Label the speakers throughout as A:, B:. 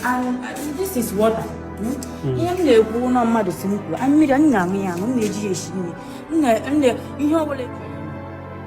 A: And uh, this is water. Hmm? Ihe m na-ekwu na ọ mmadụ sị m kwuo, mmiri m na-aṅụ ya aṅụ, m na-eji ya esi nri, ihe ọ bụla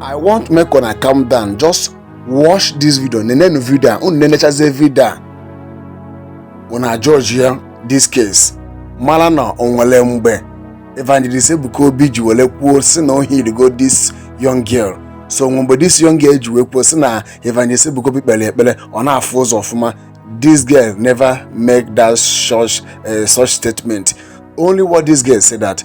B: i want make una calm down just watch this video nenenu video a unu nenechazie video a una judge ya this case mara na o nwere mgbe evangelist ebuka obi ji were kwuo sị na o healigo this young girl so o nwere mgbe this young girl ji wee kwuo sị na evangelist ebuka obi kpere ekpere ọ na-afụ ụzọ ọfụma this girl never make that such statement only what this girl said that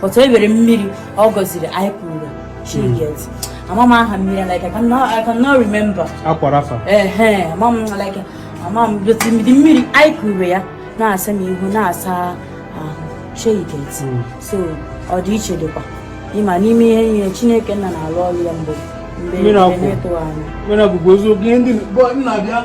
A: but obere mmiri ọ gọziri anyị kuru shey you get hmm. ama m aha mmiri like I cannot remember akwara afa ehe ama m like ama m otu mmiri anyị kuru ya na-asa m ihu na-asa ahụ shey you get hmm. so ọ dị iche dịkwa ịma n'ime ihe ihe Chineke nna na-alụ ọrụ ya mgbe mgbe
C: na-atụ anya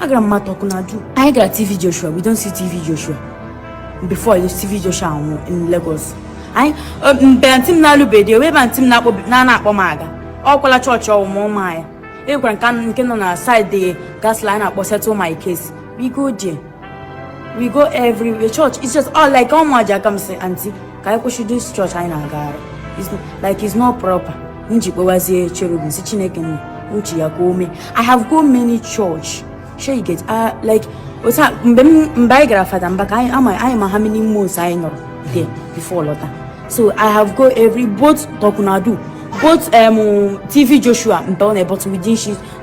A: agara m ma tokunadu anyị gara tv joshua we don see tv joshua before you tv joshua anwụ in lagos anyị mgbe antị m na-alụbeghị ebe ebe antị m na-akpọ m aga ọ gwala chọọchị ọwụ ma ụma ya e gwara nke nke nọ na saịdị gas line a na-akpọ settle my case we go there we go every church it's just all like ọmụ aja I come say antị ka anyị kwụsị this chọọchị anyị na-agagharị like it's not proper nji kpọwazie cherubim sị chineke nna uche ya ka o mee i have go many church shey you get uh, like otu mgbe mgbe anyị gara fada mbaka anyị ma how many months anyị nọrọ there before lọta so i have go every both tokunadu both um, tv joshua mba ọ but within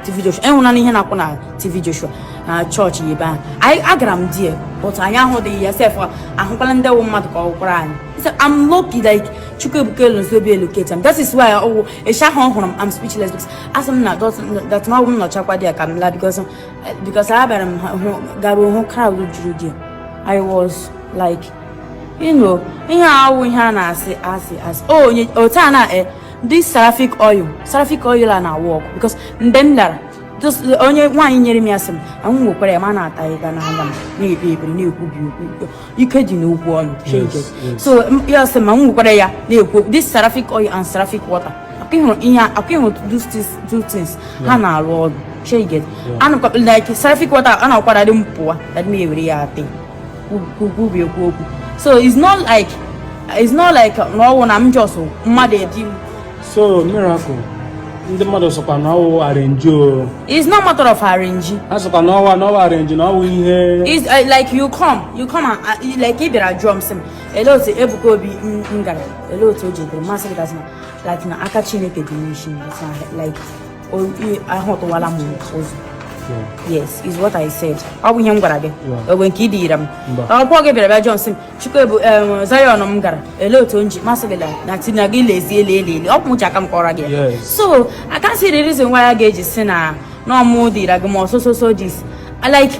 A: TV Joshua anwụna n'ihe m na-ekwu na TV Joshua na chọọchị ya ebe ahụ anyị agara m di ya but anyị ahụdị ya sef ahụkwala ndị wụ mmadụ ka ọ wụkwara anyị so I'm lucky like Chukwuebuka Anozie Obi locatera m that is why ọwụ ịsha ahụ hụrụ m I'm speechless because asị m na dat na ọ wụ m nọchakwa dị ya ka m la because because abịara m hụ garuo hụ crowd juru di ya I was like you know ihe awụ ihe a na-asị asị asị o onye otu a na This Seraphic oil, Seraphic oil a na-awork because mgbe m lara onye nwaanyị nyere m ya sị m nwa m wekwara ya ma na-ata ya n'anya m na-ekpe ekpere na-ekwubi okwu ike dị n'okwu ọnụ so ya sị m nwa m wekwara ya na-ekwu this Seraphic oil and Seraphic water ọkwa ịhụrụ ihe ọkwa ịhụrụ two things ha na-arụ ọrụ shey you get ana m like Seraphic water a na-akwara dị m pụwa na dị m ewere ya atị kwubi ekwu okwu so it's not like it's not like na ọwụ na m just mmadụ edi m so miracle
C: ndị mmadụ sịkwa na ọwụ arrange o it's not matter of
A: arrange ha sịkwa na ọwụ na
C: ọwụ arrange na ọwụ ihe it's uh, like
A: you come you come and uh, like ị bịara jụọ m sị m ele otu Ebuka Obi m gara ele otu o ji dịrị m asị gị na aka Chineke dị n'isi like ahụtụwala m ụzọ yes is what I said ọ bụ ihe m gwara gị ọ wụ nke idiyira m ọkwa gị bịara bịa jụọ m sị m Chukwuebu Zion m gara ele otu o ji m asị gị na tina gị lezie ele ele ele ọ bụ mụ ji aka m kọrọ gị so I can't see the reason why a ga-eji sị na ọ mụ dịra gị ma ọ so so so this like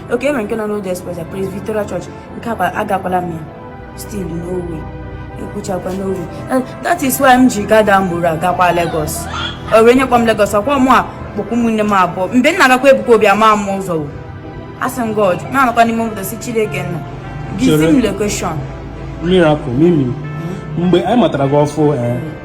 A: okay enwere nke nọ n'Old Express ya Praise Victoria Church nke akwa agakwala m ya still no way ekwuchakwa no way that is why m ji gada mgboro agakwa Lagos o nwee onye kpọ m Lagos ọkwa mụ a kpọkọ ụmụnne m abụọ mgbe m na-agakwa Ebuka Obi ama m ụzọ asị m God na-anọkwa n'ime obodo sị Chineke nna gị zi m location miracle
C: mimi mgbe anyị matara gị ọfụ eh,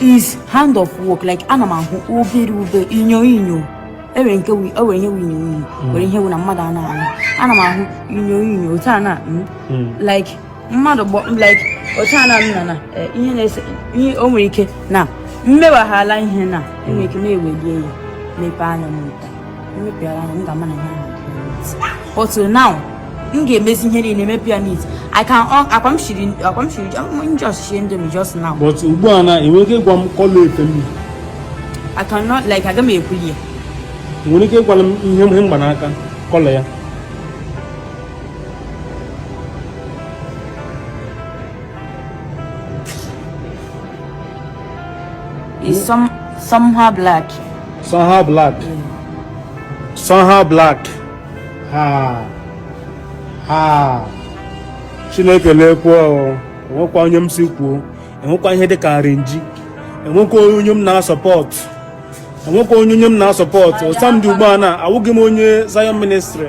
A: is hand of work like ana m ahụ obere obere inyo inyo enwere nke enwere ihe inyo inyo mm. nwere ihe na mmadụ a na-ahụ ana m ahụ inyo inyo otu a na mm, mm. like mmadụ gbọ like otu a na nna na eh, ihe na-ese ihe o nwere ike na mmewaghala ihe na enwere ike na-ewelie ya mepee anya m But uh, now, m ga-emezi ihe niile emepịa neat I can akwa m shiri akwa m shiri m just shiri Indomie just now. But ugbu a na enwere
C: ike ịgwa m colour efe m. I
A: cannot like aga m ekwuli ya. Enwere
C: ike ịgwala m ihe m gba n'aka colour ya.
A: It's some somehow
C: black. Somehow black. Somehow black. Ha. Ha. Chineke lekwa enwekwa onye m sị kwuo enwekwa ihe dị ka arrange enwekwa onye m na-asupport enwekwa onye onye m na-asupport as m dị ugbu a na awụghị m onye Zion ministry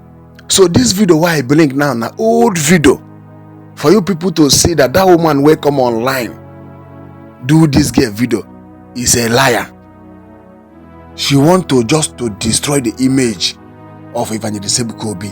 B: so this video why i bring now na old video for you people to see that that woman wey come online do this girl video is a liar she want to just to destroy the image of evangelist ebuka obi